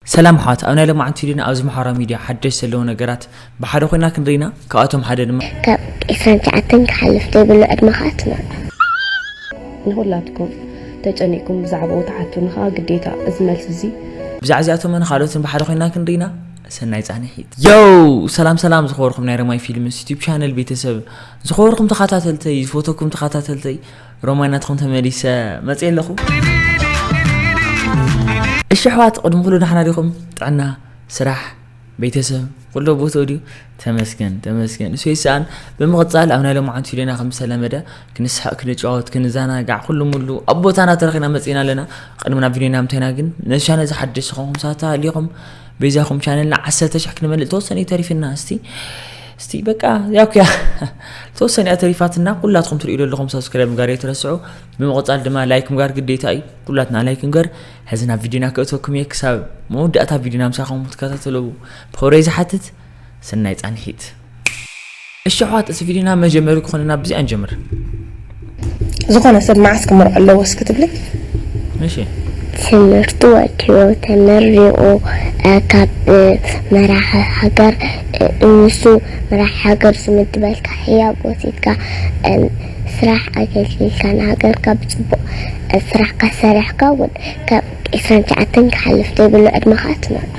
ሰላም ኣሕዋት ኣብ ናይ ሎማዓንቲ ቪድዮና ኣብዚ ማሕበራዊ ሚድያ ሓደሽቲ ዘለዉ ነገራት ብሓደ ኮይና ክንርኢ ኢና ካብኣቶም ሓደ ድማ ካብ ዕስራን ትሽዓተን ክሓልፍ ዘይብሉ ዕድመ ከኣ ትመርዖ። ንኹላትኩም ተጨኒቅኩም ብዛዕባኡ ትሓቱኒ ከኣ ግዴታ እዚ መልሲ እዚ ብዛዕባ እዚኣቶምን ካልኦትን ብሓደ ኮይና ክንርኢ ኢና ሰናይ ጻንሒት ዮው ሰላም ሰላም ዝኸበርኩም ናይ ረማይ ፊልምስ ዩቲብ ቻነል ቤተሰብ ዝኸበርኩም ተኸታተልተይ ዝፈተኩም ተኸታተልተይ ሮማይ ናትኹም ተመሊሰ መፅየ ኣለኹ እሺ ኣሕዋት ቅድሚ ኩሉ ዳሕና ዲኹም ጥዕና ስራሕ ቤተሰብ ኩሎ ቦትኡ ድዩ ተመስገን ተመስገን ንሱ ይሰኣን ብምቕፃል ኣብ ናይ ሎምዓንቲ ፊልዮና ከም ዝተለመደ ክንስሐቅ ክንጫወት ክንዘናጋዕ ኩሉ ሙሉ ኣብ ቦታና ተረኺና መፂና ኣለና ቅድሚ ናብ ፊልዮና ምታይና ግን ነሻነ ዝሓደሽ ዝኾንኩም ሳታ ኣሊኹም በይዛኹም ቻነልና ዓሰርተ ሽሕ ክንመልእ ተወሰነ እዩ ተሪፍና እስቲ እስቲ በቃ ያኩያ ተወሰነ እያ ተሪፋትና ኩላትኩም ትርእዩ ዘለኹም ሰብስክራይብ ምግባር የተረስዑ ብምቕፃል ድማ ላይክ ምግባር ግዴታ እዩ ኩላትና ላይክ ንገር ሕዚ ናብ ቪድዮና ክእተኩም እየ ክሳብ መወዳእታ ቪድዮና ምሳኹም ክትከታተሉ ብክብረይ ዝሓትት ሰናይ ፃንሒት እሺ ኣሕዋት እዚ ቪድዮና መጀመሪ ክኾነና ብዚኣ ንጀምር ዝኾነ ሰብ መዓስ ክምርዖ ኣለዎ እስኪ ትብሊ እሺ ትምህርቱ ወዲኡ ተመሪቑ ካብ መራሒ ሃገር ንሱ መራሒ ሃገር ዝምድበልካ ህያብ ወሲድካ ስራሕ ኣገልጊልካ ንሃገርካ ብፅቡቕ ስራሕካ ሰሪሕካ እውን ካብ ዕስራን ትሽዓተን ክሓልፍ ዘይብሉ ዕድመኻ ትመርዖ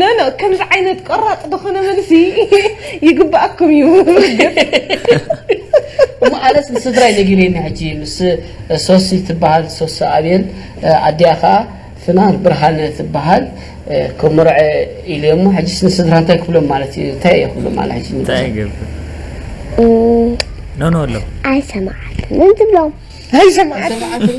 ኖኖ ከምዚ ዓይነት ቆራጽ ዝኾነ መልሲ ይግባኣኩም እዩ እሞ ኣነስ ንስድራይ ነጊረኒ ሕጂ ምስ ሶሲ ትበሃል ሶሲ ኣብየል ኣዲኣ ከዓ ፍናን ብርሃነ ትበሃል ክምርዐ ኢሉ እሞ ሕጂስ ንስድራ እንታይ ክብሎም ማለት እዩ እንታይ እየ ክብሎም ማለት ሕጂ እንታይ ይገብር ኖኖ ኣሎ ኣይሰማዓትን እንትብሎም ኣይሰማዓትን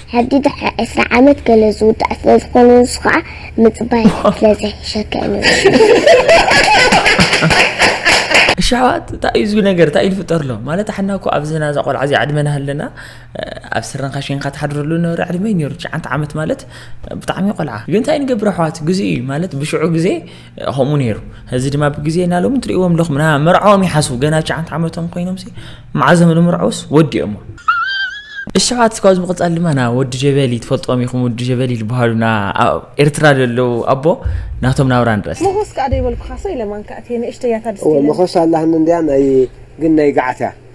ሕዲ ድሕሪ ዕስራ ዓመት ገለ ዝውዳእ ስለ ዝኾነ ንሱ ኸኣ ምጽባይ ስለ ዘሕሸካ እዩ እሺ ኣሕዋት እንታይ እዩ ዝብል ነገር እንታይ እዩ ዝፍጠርሎ ማለት ሓና እኮ ኣብዚ ናዛ ቆልዓ እዚ ዕድመና ሃለና ኣብ ስረንካ ሽንካ ትሓድረሉ ነበረ ዕድመ ነይሩ ትሽዓተ ዓመት ማለት ብጣዕሚ ቆልዓ ግን እንታይ ንገብር ኣሕዋት ግዜ እዩ ማለት ብሽዑ ግዜ ከምኡ ነይሩ እዚ ድማ ብግዜ እና ሎሚ ትርእዎም ኣለኹም ና መርዓኦም ይሓስቡ ገና ሸዓንተ ዓመቶም ኮይኖም መዓዞም ንምርዐውስ ወዲኦሞ እሸዓት ስካብ ዝምቕፃል ድማ ና ወዲ ጀበሊ ትፈልጦም ኢኹም ወዲ ጀበሊ ዝበሃሉ ና ኤርትራ ዘለዉ ኣቦ ናቶም ናብራ ንረስ መኾስ ከዓ ደይበልኩኻሰ ኢለማንካ እቴ ንእሽተያታ ድስቲ መኾስ ኣላህኒ እንድያ ናይ ግን ናይ ገዓት እያ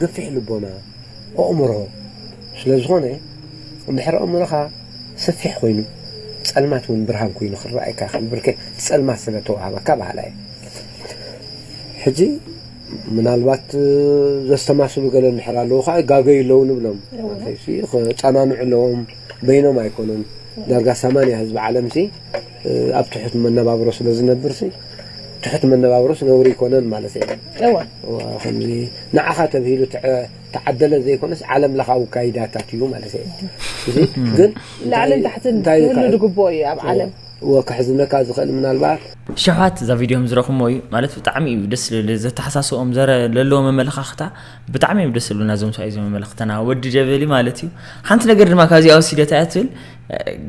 ገፊሕ ልቦና፣ ኣእምሮ፣ ስለ ዝኾነ እንድሕር ኣእምሮኻ ሰፊሕ ኮይኑ ጸልማት ውን ብርሃን ኮይኑ ክረኣየካ ይኽእል ብርክ እቲ ጸልማት ስለ ተዋህበካ በሃላይ እየ። ሕጂ ምናልባት ዘስተማስሉ ገለ እንድሕር ኣለዉ ከዓ ይጋገዩ ኣለዉ ንብሎም ክጸናንዑ ኣለዎም በይኖም ኣይኮኑን ዳርጋ ሰማንያ ህዝቢ ዓለምሲ ኣብ ትሑት መነባብሮ ስለ ዝነብርሲ ትሑት መነባብሮስ ነውሪ ኣይኮነን ማለት እየ። እወ እወ ከምዚ ንዓኻ ተብሂሉ ተዓደለ ዘይኮነስ ዓለም ለኻዊ ካይዳታት እዩ ማለት እየ። እዚ ግን ላዕልን ታሕትን ክህሉ ዝግብኦ እዩ ኣብ ዓለም። እወ ከሕዝነካ ዝኽእል ምናልባት ሸውሃት እዛ ቪድዮ ምዝረኩሞ እዩ ማለት ብጣዕሚ እዩ ደስ ልብል ዘተሓሳስብኦም ዘረ ለለዎ መመለካክታ ብጣዕሚ እዮም ደስ ልብሉና እዞም ሰብኣይ እዞም መመለክተና ወዲ ጀበሊ ማለት እዩ ሓንቲ ነገር ድማ ካብዚኣ ወሲደታ እያ ትብል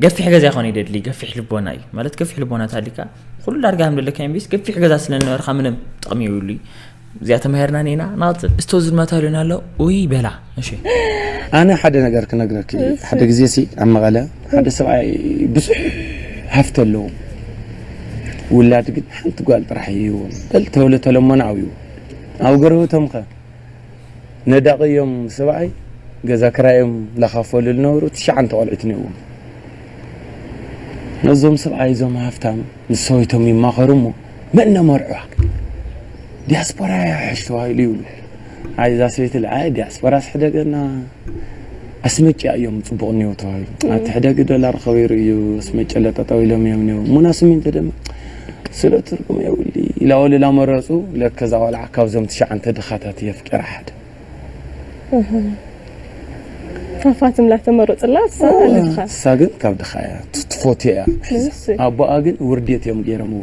ገፊሕ ገዛ ይኾን ይደድሊ ገፊሕ ልቦና እዩ ማለት ገፊሕ ልቦና ታሊካ ኩሉ ዳርጋ ከም ደለካ ቢስ ገፊሕ ገዛ ስለነበርካ ምንም ጥቕሚ ይብሉ እዚኣ ተማሂርና ኒና ናት እስቶ ዝድማታ ሊዮና ኣሎ ውይ በላ እሺ ኣነ ሓደ ነገር ክነግረኪ ሓደ ግዜ ሲ ኣብ መቐለ ሓደ ሰብኣይ ብዙሕ ሃፍቲ ኣለዎ ውላድ ግን ሓንቲ ጓል ጥራሕ እዩ በል ተወለ ተለሞና ኣብዩ ኣብ ጎረበቶም ከ ነዳቒ እዮም ሰብኣይ ገዛ ክራይ እዮም ላካፈሉ ልነበሩ ትሽዓንተ ቆልዑት እኒኦዎም ነዞም ሰብኣይ እዞም ሃፍታም ምስ ሰበይቶም ይማኸሩ እሞ መን ነመርዕዋ ዲያስፖራ እያ ሕሽ ተባሂሉ ይብሉ ኣይ እዛ ሰበይቲ ኣይ ዲያስፖራስ ሕደገና ኣስመጭያ እዮም ጽቡቕ ኒው ተባሂሉ ኣብቲ ሕደጊ ዶላር ኸቢሩ እዩ ኣስመጭለ ጠጠው ኢሎም እዮም ኒው ሙና ስሚንቶ ድማ ስለ ትርጉም የብሉ ኢላ ወለላ መረጹ ለከዛ ቆልዓ ካብዞም ትሽዓንተ ድኻታት እየ ፍቂራ ሓደ ፋፋትም ላተመረጽላ እሳ ግን ካብ ድኻ እያ ትፎትዮ እያ ኣቦኣ ግን ውርዴት እዮም ገይረምዎ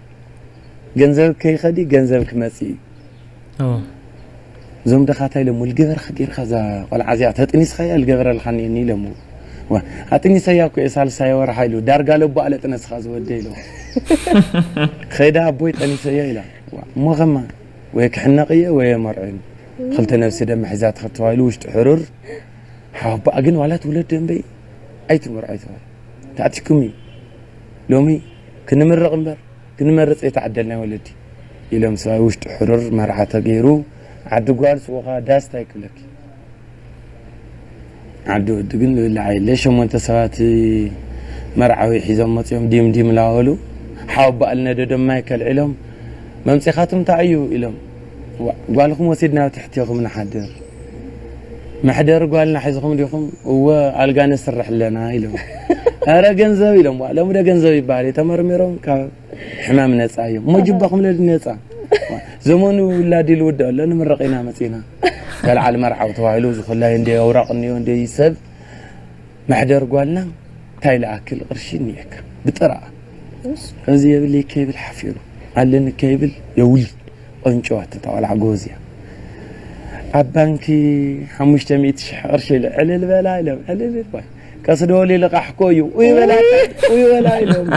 ገንዘብ ከይኸዲ ገንዘብ ክመጽእ እዩ እዞም ደኻ እንታይ ኢሎሞ ልገበርካ ጌርካ እዛ ቆልዓ እዚኣ ተጥኒስካያ ልገበረልካ እኒአኒ ኢሎሞ ኣጥኒሰያ እኮ እየ ሳልሳይ ወርሓ ኢሉ ዳርጋ ለቦ ኣለ ጥነስኻ ዝወደ ኢሎ ኸይዳ ኣቦይ ጠኒሰዮ ኢላ እሞ ኸማ ወይ ክሕነቕ እየ ወይ የመርዕን ክልተ ነብሲ ደመ ሒዛ ትኸተዋ ኢሉ ውሽጢ ሕሩር ሓባኣ ግን ዋላ ትውለድ ደንበይ ኣይትመርዖ ይተባል ተኣቲኩም እዩ ሎሚ ክንምርቕ እምበር ክንመርጽ ዘይተዓደልና ወለዲ። ኢሎም ሰብኣይ ውሽጡ ሕሩር መርዓ ተገይሩ ዓዲ ጓል ሱቕ ከኣ ዳስ ታይ ክብለኪ ዓዲ ወዲ ግን ዝብላዕ የለ ሸሞንተ ሰባት መርዓዊ ሒዞም መጽዮም ዲም ዲም ላበሉ ሓወቦኣ ልነደዶም ማይክ ኣልዒሎም መምጺኻትም ታይ እዩ ኢሎም ጓልኹም ወሲድና ኣብ ትሕቴኹም ንሓድር መሕደሪ ጓልና ሒዝኹም ዲኹም እወ ኣልጋ ነስርሕ ኣለና ኢሎም ኣረ ገንዘብ ኢሎም ሎሚ ዶ ገንዘብ ይበሃል እዩ ተመርሚሮም ካብ ሕማም ነፃ እዮም እሞ ጅባኹም ለዲ ነፃ ዘመኑ ውላድ ኢሉ ውድኦ ኣሎ ንምረቕ ኢና መፂና በልዓል መርዓው ተባሂሉ ዝኹላይ እንደ ኣውራቕ እኒኦ እንደ ሰብ መሕደር ጓልና ታይ ልኣክል ቕርሺ እኒኤካ ብጥራኣ እዚ የብልይ ከይብል ሓፊሩ ኣለኒ ከይብል የውልድ ቐንጭዋ እታ ቖልዓ ጎበዝ እያ ኣብ ባንኪ ሓሙሽተ ሚእቲ ሽሕ ቕርሺ ኢለ ዕልል በላ ኢሎም ዕልል ባይ ቀስ ደወሊ ልቓሕ ኮ እዩ ኡይ በላ ኡይ በላ ኢሎም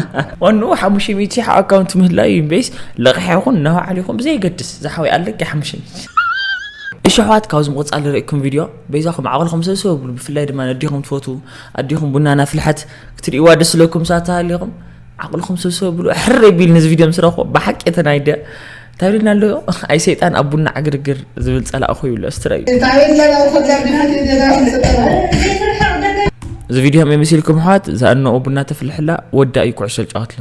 ዋንኡ ሓሙሽተ ሚእቲ ሽሕ ኣብ ኣካውንት ምህላዩ እዩ እምበይስ ልቕሕ ይኹን ነባዕሉ ይኹን ብዘየገድስ ዝሓወይ ኣለኪ ሓሙሽተ ሚእቲ ሽሕ እሽሕዋት ካብዚ ምቕፃል ዝርእኩም ቪድዮ በይዛኹም ዓቕልኹም ሰብሰብ ብሉ ብፍላይ ድማ ኣዲኹም ትፈትዉ ኣዲኹም ቡና ናፍልሐት ክትርእይዋ ደስ ለኩም ሳት ተሃሊኹም ዓቕልኹም ሰብሰብ ብሉ ሕር ቢል ንዚ ቪድዮ ምስ ረኽቦ ብሓቂ ተናይደ እንታይ ልና ኣሎ ኣይ ሰይጣን ኣብ ቡና ዕግርግር ዝብል ፀላእ ኮይብሎ ስትረዩ እዚ ቪድዮ ሃመይ መሲልኩም ኣሕዋት ዝኣነኡ ቡና ተፍልሕላ ወዳ እዩ ኩዕሶ ዝጫወትሎ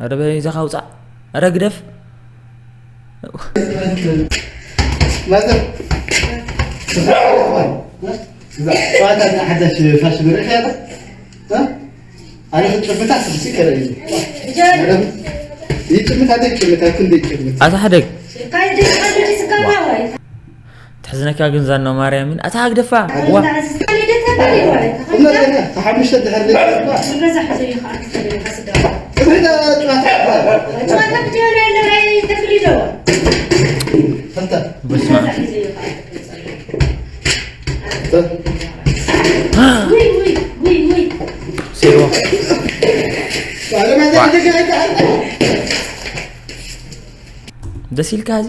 ኧረ በይዛኻ ውፃእ ኧረ ግደፍ ኣታ ሓደግ ተሕዝነካ ግን ዛና ማርያምን ኣታ ሃግደፋ ዋ ደስ ኢልካ እዚ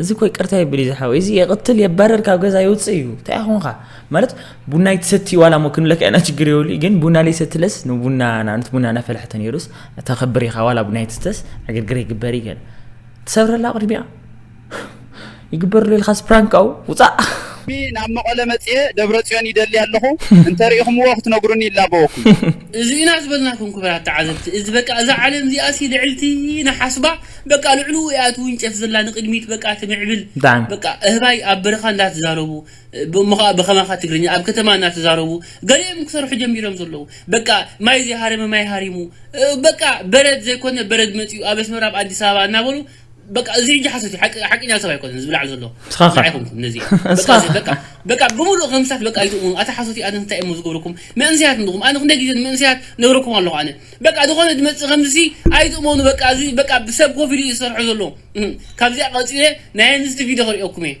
እዚ እኮ ይቅርታ የብል እዩ ዝሓወይ እዚ የቕትል የባረር ካብ ገዛ ይውፅእ እዩ እንታይ ኮንካ ማለት ቡና ይትሰቲ ዋላ ሞ ክንብለካ ኢና ችግር የብሉ ግን ቡና ለይሰትለስ ንቡና ንኣብነት ቡና እናፈላሕተ ነይሩስ ተኸብር ኢኻ ዋላ ቡና ይትስተስ ዕግርግር ይግበር እዩ ገለ ትሰብረላ ቅድሚኣ ይግበርሉ ኢልካ ስፕራንክ ኣው ውፃእ። ሎሚ ናብ መቐለ መጺኤ ደብረጽዮን ይደሊ ኣለኹ እንተ ሪኢኹምዎ ክትነግሩኒ ይላበወኩም። እዚ ኢና ዝበልናኩም ክብራት ተዓዘብቲ እዚ በቃ እዛ ዓለም እዚኣሲ ልዕልቲ ኢና ሓስባ በቃ ልዕሉ ኢያ ትውንጨፍ ዘላ ንቅድሚት በቃ ትምዕብል በቃ እህባይ ኣብ በረካ እንዳተዛረቡ። እሞ ከኣ ብከማካ ትግርኛ ኣብ ከተማ እናተዛረቡ ገለ እዮም ክሰርሑ ጀሚሮም ዘለዉ በቃ ማይ ዘይሃረመ ማይ ሃሪሙ በቃ በረድ ዘይኮነ በረድ መጺኡ ኣብ ኣስመራ ኣብ ኣዲስ ኣበባ እናበሉ በቃ እዚ ሕጂ ሓሶት እዩ ሓቂ ሓቂኛ ሰብ ኣይኮነን ዝብላዕ ዘሎ ንስኻ ከ? ንዓይ ኮንኩም ነዚ በቃ ንስኻ እዚ በቃ በቃ ብምሉእ ከምስታት በቃ ኣይትእምኑ ኣታ ሓሶት እዩ ኣነ እንታይ እሞ ዝገብረኩም መንእሰያት እንድኹም ኣነ ክንደይ ግዜ ንመንእሰያት ነግረኩም ኣለኹ ኣነ በቃ ዝኾነ ዝመጽእ ከምዚ ሲ ኣይትእመኑ በቃ እዚ በቃ ብሰብ ኮፍ ኢሉ እዩ ዝሰርሖ ዘሎ እህ፣ ካብዚኣ ቀጺለ ናይ ኣንስቲ ቪድዮ ክርእየኩም እየ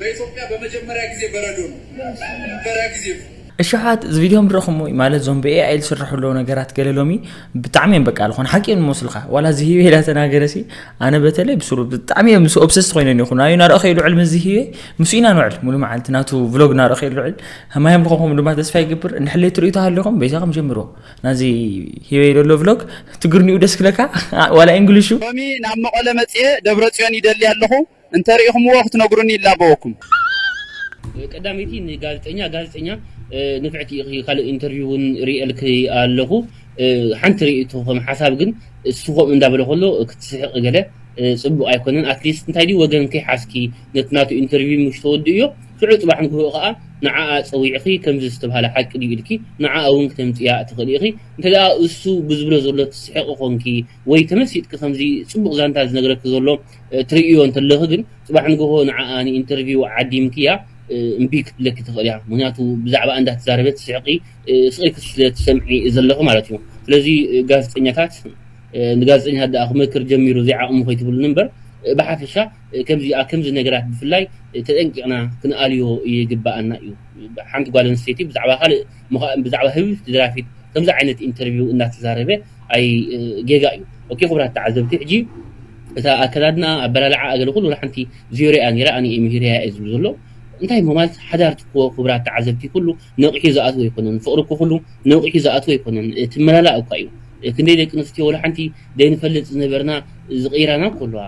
በኢትዮጵያ በመጀመርያ ግዜ በረዶ ነው መጀመርያ ግዜ ነው። እሻሓት እዚ ቪድዮ ምረኹምዎ ማለት ዞም ብ AI ዝስራሑ ኣለዉ ነገራት ገለ ሎሚ ብጣዕሚ እዮም በቃ ልኾነ ሓቂ እዮም ዝመስሉኻ ዋላ ዝሂወ ኢላ ተናገረሲ ኣነ በተለይ ብሱሩ ብጣዕሚ እዮም ምስ ኦብሰስ ኮይነ ይኹ ናዩ ናርኦ ከይልውዕል ምስ ዝሂወ ምስ ኢና ንውዕል ሙሉ መዓልቲ ናቱ ቭሎግ ናርኦ ከይልውዕል ማዮም ልኾንኩም ድማ ተስፋ ይገብር እንድሕለይ ትርእዩ ተሃሊኹም በይዛኹም ጀምርዎ ናዚ ሂወ ደሎ ቭሎግ ትግርኒኡ ደስ ክለካ ዋላ እንግሊሹ ሎሚ ናብ መቐለ መጽኤ ደብረጽዮን ይደሊ ኣለኹ እንተ ሪኢኹምዎ ክትነግሩኒ ይላበወኩም። ቀዳመይቲ ንጋዜጠኛ ጋዜጠኛ ንፍዕቲ ኢኺ ካልእ ኢንተርቪው እውን ሪኤልኪ ኣለኹ ሓንቲ ርእይቶ ከም ሓሳብ ግን እሱ ከምኡ እንዳበለ ከሎ ክትስሕቂ ገለ ጽቡቕ ኣይኮነን ኣትሊስት እንታይ ድዩ ወገን ከይሓዝኪ ነቲ ናቱ ኢንተርቪው ምሽ ተወድእዮ ሽዑ ጽባሕ ንግሆኡ ከኣ ንዓኣ ጸዊዕኺ ከምዚ ዝተባህለ ሓቂ ድዩ ኢልኪ ንዓኣ እውን ክተምጽያ ትኽእሊ ኢኺ እንተ እሱ ብዝብሎ ዘሎ ትስሕቂ ኮንኪ ወይ ተመሲጥኪ ከምዚ ጽቡቕ ዛንታ ዝነግረኪ ዘሎ ትርእዮ እንተለኺ ግን ጽባሕ ንግሆ ንዓኣ ንኢንተርቪው ዓዲምክያ እምቢ ክትብለኪ ትኽእል እያ ምክንያቱ ብዛዕባ እንዳ ትዛረበ ትስሕቂ ስቂልኪ ስለ ትሰምዒ ዘለኺ ማለት እዩ ስለዚ ጋዜጠኛታት ንጋዜጠኛታት ደኣ ክመክር ጀሚሩ ዘይዓቕሙ ከይትብሉኒ እምበር ብሓፈሻ ከምዚ ከምዚ ነገራት ብፍላይ ተጠንቂቕና ክንኣልዮ ይግባኣና እዩ ሓንቲ ጓል ኣንስተይቲ ብዛዕባ ካልእ ብዛዕባ ህብብቲ ደራፊት ከምዚ ዓይነት ኢንተርቪው እናተዛረበ ኣይ ጌጋ እዩ ኦኬ ክቡራት ተዓዘብቲ ሕጂ እታ ኣከዳድና ኣበላልዓ ኣገለ ኩሉ ሓንቲ ዙሪያ ኔራ ኣነ እየ ምሂረያ እየ ዝብሉ ዘሎ እንታይ እሞ ማለት ሓዳር ትክዎ ክቡራት ተዓዘብቲ ኩሉ ነቂሑ ዝኣትዎ ኣይኮነን ፍቅሪ እኮ ኩሉ ነቂሑ ዝኣትዎ ኣይኮነን እቲ መላላ እኳ እዩ ክንደይ ደቂ ኣንስትዮ ወላ ሓንቲ ዘይንፈልጥ ዝነበርና ዝቀይራና እኮ ኣለዋ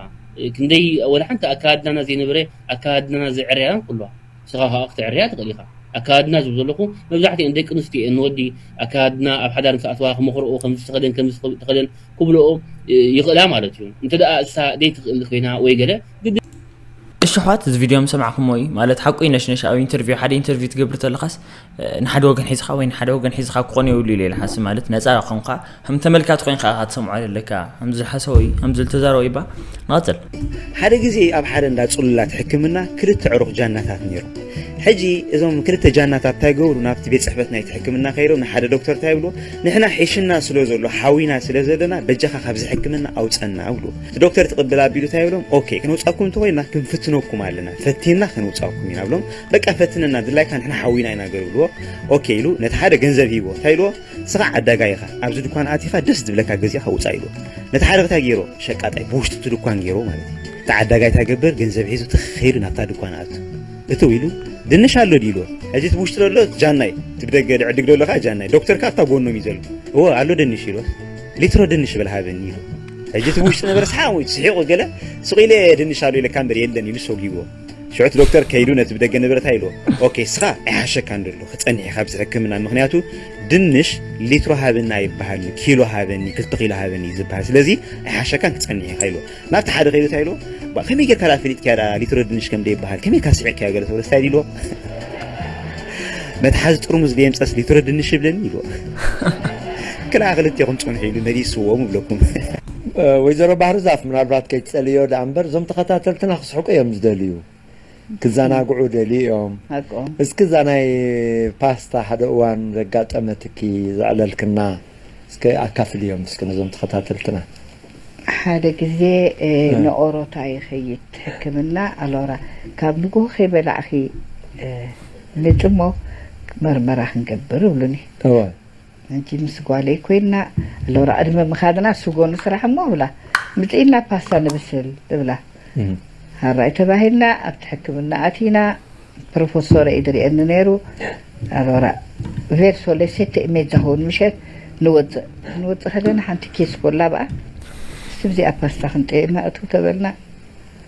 ክንደይ ወላ ሓንቲ ኣከዳድናና ዘይነበረ ኣከዳድናና ዘዕርያና እኮ ኣለዋ ንስኻ ከኣ ክትዕርያ ትኽእል ኢኻ። ኣከዳድና ዝብል ዘለኹ መብዛሕትኤን ደቂ ኣንስትዮ እየን ንወዲ ኣከዳድና ኣብ ሓዳር ምስ ኣትዋ ክመኽርኦ ከምዚ ተኸደን ከምዚ ተኸደን ክብልኦ ይኽእላ ማለት እዩ። እንተ እሳ ደይትኽእል ኮይና ወይ ገለ ግድን። እሺ ኣሕዋት እዚ ቪድዮ ምሰማዕኩምዎ እዩ ማለት ሓቁ እዩ ነሽነሽ ኣብ ኢንተርቪው ሓደ ኢንተርቪው ትገብር ተለኻስ ንሓደ ወገን ሒዝኻ ወይ ንሓደ ወገን ሒዝኻ ክኾን የብሉ ኢለ ሓስብ ማለት ነፃ ኮንካ ከም ተመልካቲ ኮይንካ ኢኻ ትሰምዖ ዘለካ ከምዚ ዝሓሰበ እዩ ከምዚ ዝተዛረበ ይባ ንቐፅል ሓደ ግዜ ኣብ ሓደ እንዳ ፅሉላት ሕክምና ክልተ ዕሩኽ ጃናታት ነይሩ ሕጂ እዞም ክልተ ጃናታት እንታይ ገብሩ ናብቲ ቤት ፅሕፈት ናይቲ ሕክምና ከይዶም ንሓደ ዶክተር እንታይ ይብሉ ንሕና ሒሽና ስለ ዘሎ ሓዊና ስለ ዘለና በጃኻ ካብዚ ሕክምና ኣውፀና ይብሉ እቲ ዶክተር ትቕብል ኣቢሉ እንታይ ይብሎም ኦኬ ክንውፃኩም እንተኮይና ክንፍትነኩም ኣለና ፈቲና ክንውፃኩም ኢና ብሎም በቃ ፈትነና ድላይካ ንሕና ሓዊና ኢና ገብርዎ ኦኬ ኢሉ ነቲ ሓደ ገንዘብ ሂቦ እንታይ ኢልዎ ስኻ ዓዳጋይ ኢኻ ኣብዚ ድኳን ኣቲኻ ደስ ዝብለካ ገዚእኻ ውፃእ ኢልዎ ነቲ ሓደ እንታይ ገይሮ ሸቃጣይ ብውሽጢ እቲ ድኳን ገይሮ ማለት እዩ እቲ ዓዳጋይ እንታይ ገብር ገንዘብ ሒዙ ትኸይዱ ናብታ ድኳን ኣቱ እትው ኢሉ ድንሽ ኣሎ ድዩ ኢልዎ ሕዚ እቲ ብውሽጢ ዘሎ ጃናይ እቲ ብደገ ድዕድግ ዘሎ ከዓ ጃናይ ዶክተር ከዓ ኣብታ ጎኖም እዩ ዘሎ እወ ኣሎ ድንሽ ኢልዎ ሊትሮ ድንሽ በል ሃበኒ ኢሉ ሕጂ እቲ ብውሽጢ ነበረ ሰሓቅ ስሒቁ ገለ ስቂለ ድንሽ ኣሎ ኢለካ እምበር የለን ኢሉ ሰጊብዎ ሽዑቲ ዶክተር ከይዱ ነቲ ብደገ ንብረት ኢልዎ ኦኬ ስኻ ኣይሓሸካን ደሎ ክጸኒሕ ኢኻ ብዚ ሕክምና ምክንያቱ ድንሽ ሊትሮ ሃበኒ ኣይበሃል ኪሎ ሃበኒ ክልተ ኪሎ ሃበኒ እዩ ዝበሃል ስለዚ ኣይሓሸካን ክጸኒሕ ኢኻ ኢልዎ ናብቲ ሓደ ከይዱ እንታይ ኢልዎ ከመይ ጌርካ ዳ ፈሊጥካያ ዳ ሊትሮ ድንሽ ከም ደይበሃል ከመይ ካ ስዒርካዮ ገለ ተብሎ ስታይ ኢልዎ መትሓዚ ጥርሙዝ ደየምፀስ ሊትሮ ድንሽ ይብለኒ ኢልዎ ክላ ክልቴኹም ጽንሑ ኢሉ መሊስዎም ይብለኩም ወይዘሮ ባህር ዛፍ ምናልባት ከይትጸልዮ ዳኣ እምበር እዞም ተኸታተልትና ክስሕቁ እዮም ዝደልዩ ክዛናግዑ ደልዩ እዮም ሃቆም። እስኪ እዛ ናይ ፓስታ ሓደ እዋን ዘጋጠመትኪ ዘዕለልክና እስኪ ኣካፍልዮም እስኪ ነዞም ተኸታተልትና። ሓደ ግዜ ንኦሮታ ይኸይድ ሕክምና ኣሎራ ካብ ንጉሆ ከይበላዕኺ ምጺ እሞ መርመራ ክንገብር እብሉኒ። እወ። ኣንቺ ምስ ጓለይ ኮይና ኣሎራ ቅድሚ ምካድና ስጎ ንስራሕ እሞ እብላ ምጺኢና ፓስታ ንብስል እብላ ሃራይ ተባሂልና ኣብቲ ሕክምና ኣቲና ፕሮፈሶረ እዩ ድርኤኒ ነይሩ ኣሎራ ቬርሶ ለ ሴተ ኢሜጃ ሆን ምሸት ንወጽእ ክንወጽእ ከለና ሓንቲ ኬስ ኮላ ብኣ ስብዚኣ ፓስታ ክንጠይማ እትው ተበልና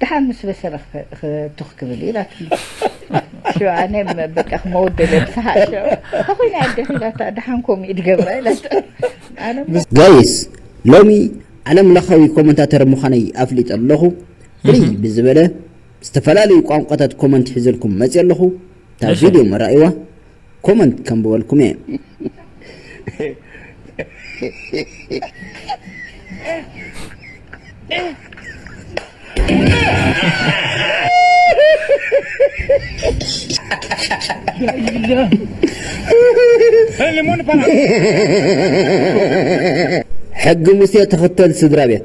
ደሓር ምስ በሰለ ትኽ ክብል እዩ ኢላትኒ ሸ ኣነ በቃ ክመውት ደለ ብሰሓቅ ሸ ተኮይነ ኣደኺ ኢላታ ደሓን ከምኡ እዩ ድገብራ ኢላታ ኣነ እሞ ጋይስ ሎሚ ዓለም ለኻዊ ኮመንታተር ምዃነይ ኣፍሊጠ ኣለኹ ፍልይ ብዝበለ ዝተፈላለዩ ቋንቋታት ኮመንት ሒዘልኩም መፅየ ኣለኹ እታ እሺ። ቪድዮ መራእይዋ ኮመንት ከንብበልኩም እየ ሕጊ ሙሴ ተኸተል ስድራ ቤት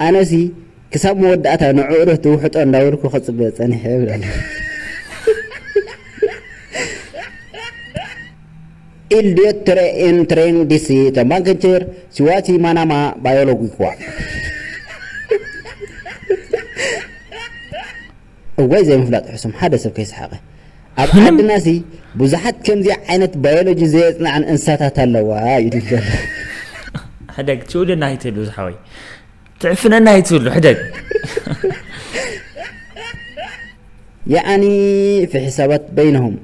ኣነሲ ክሳብ መወዳእታ ንዕኡርህ ትውሕጦ እንዳበልኩ ክጽበ ጸኒሐ ይብለና። ኢል ዲዮት ትረ ኤን ትሬን ዲሲ ተምባንክንችር ሲዋሲ ማናማ ባዮሎጊ ክዋ እዋይ ዘይምፍላጥ ሕሱም ሓደ ሰብ ከይሰሓቀ። ኣብ ዓድና ሲ ብዙሓት ከምዚ ዓይነት ባዮሎጂ ዘየጽንዓን እንስሳታት ኣለዋ ኢሉ ዘሎ። ሕደግ ትውልና ኣይትህሉ ዝሓወይ ትዕፍነና ኣይትህሉ ሕደግ። ያኣኒ ፊ ሕሳባት በይነሁም።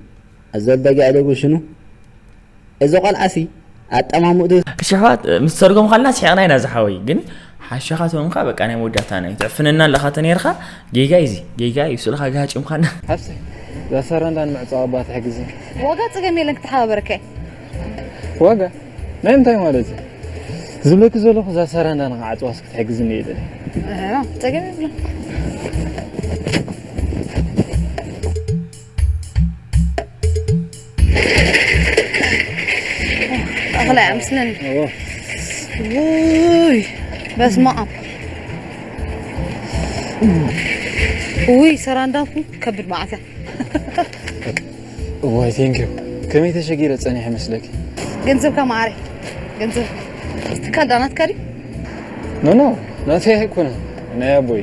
ኣዞ በጊዕ ሌቡ ሽኑ እዚ ቆልዓ ሲ ኣጠማምትኡ። ኣሸሓት ምስ ተርጎምካልና ስሒቅና ኢና ዝሓወይ ግን ሓሸኻ ተምካ በቃ ናይ መወዳእታ ናይ ትዕፍነና ኣለኻ ተነርካ ጌጋ እዩ እዚ ጌጋ እዩ ስልኻ ጋሃጭምካና ሓፍቲ ዛሰረንዳን ምዕጻው ኣባ ትሕግዚ ዋጋ ጽገም የለን ክትሓባበረከ ዋጋ ናይ እንታይ ማለት እዩ ዝብለኪ ዘለኹ እዛ ሰረንዳ ንክዓፅዋስ ክትሕግዝኒ እየ ደለ ፀገም የብሎ እኽለ ምስልን ውይ በስመ አብ ውይ ሰራ እንዳኩ ከብድ መዓት እያ ዋይ ቴንኪዩ ከመይ ተሸጊረ ፀኒሐ መስለኪ ገንዘብካ መዓረይ ገንዘብ ትካል ዳናትካ ድዩ ኖ ኖ ናተይ ኣይኮነን ናይ ኣቦይ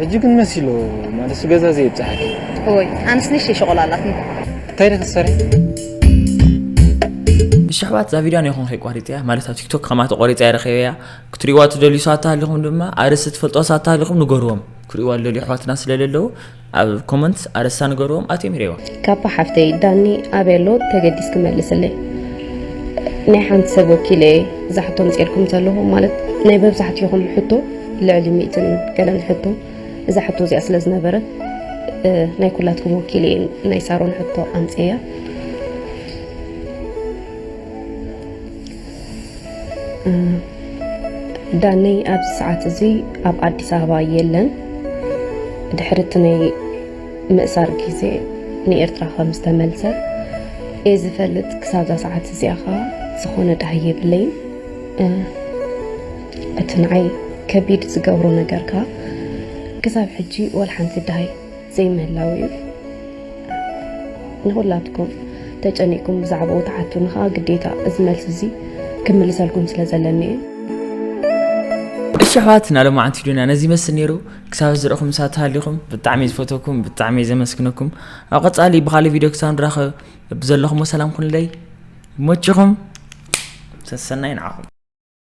ሕጂ ግን መሲሉ ማለት ገዛ ዘይብጽሓኪ እወይ ኣንስ ንሽ ሸቆላ ኣላትኒ እንታይ ደ ክትሰርሒ እሺ ኣሕዋት እዛ ቪድዮ ነይኹም ከይቋሪፀያ ማለት ኣብ ቲክቶክ ከማ ተቆሪፀ ኣይረኸበያ ክትሪእዋ ትደልዩ ሰባት ተሃሊኹም ድማ ኣርእስቲ ትፈልጦ ሰባት ተሃሊኹም ንገርዎም ክርእዋ ዝደልዩ ኣሕዋትና ስለዘለዉ ኣብ ኮመንት ኣርእስታ ንገርዎም ኣትዮም ይርእዋ ካፓ ሓፍተይ ዳኒ ኣበይ ኣሎ ተገዲስ ክመልስለይ ናይ ሓንቲ ሰብ ወኪለ እየ ዛሕቶ ምፅልኩም ዘለኹ ማለት ናይ መብዛሕትኹም ሕቶ ልዕሊ ሚእትን ገለን ሕቶ እዛ ሕቶ እዚኣ ስለ ዝነበረት ናይ ኩላትኩም ወኪል እየ ናይ ሳሮን ሕቶ ኣምፅያ ዳነይ ኣብዚ ሰዓት እዚ ኣብ ኣዲስ ኣበባ የለን ድሕሪ እቲ ናይ ምእሳር ግዜ ንኤርትራ ከም ዝተመልሰ እየ ዝፈልጥ ክሳብዛ ሰዓት እዚኣ ከዓ ዝኾነ ዳሃይ የብለይን እቲ ንዓይ ከቢድ ዝገብሮ ነገር ከኣ ክሳብ ሕጂ ወላ ሓንቲ ደሃይ ዘይምህላዉ እዩ። ንኹላትኩም ተጨኒቕኩም ብዛዕባኡ ትሓቱኒ ከኣ ግዴታ እዚ መልሲ እዚ ክምልሰልኩም ስለ ዘለኒ እዩ። እሺ ኣሕዋትና ሎማዓንቲ ዱና ነዚ ይመስል ነይሩ ክሳብ ዝረኹም ሳት ሃሊኹም ብጣዕሚ ዝፈተኩም ብጣዕሚ ዘመስግነኩም ኣብ ቀጻሊ ብኻሊ ቪድዮ ክሳብ ንራኸብ ብዘለኹም ሰላም ኩንለይ ይመችኹም ሰሰናይ ንዓኹም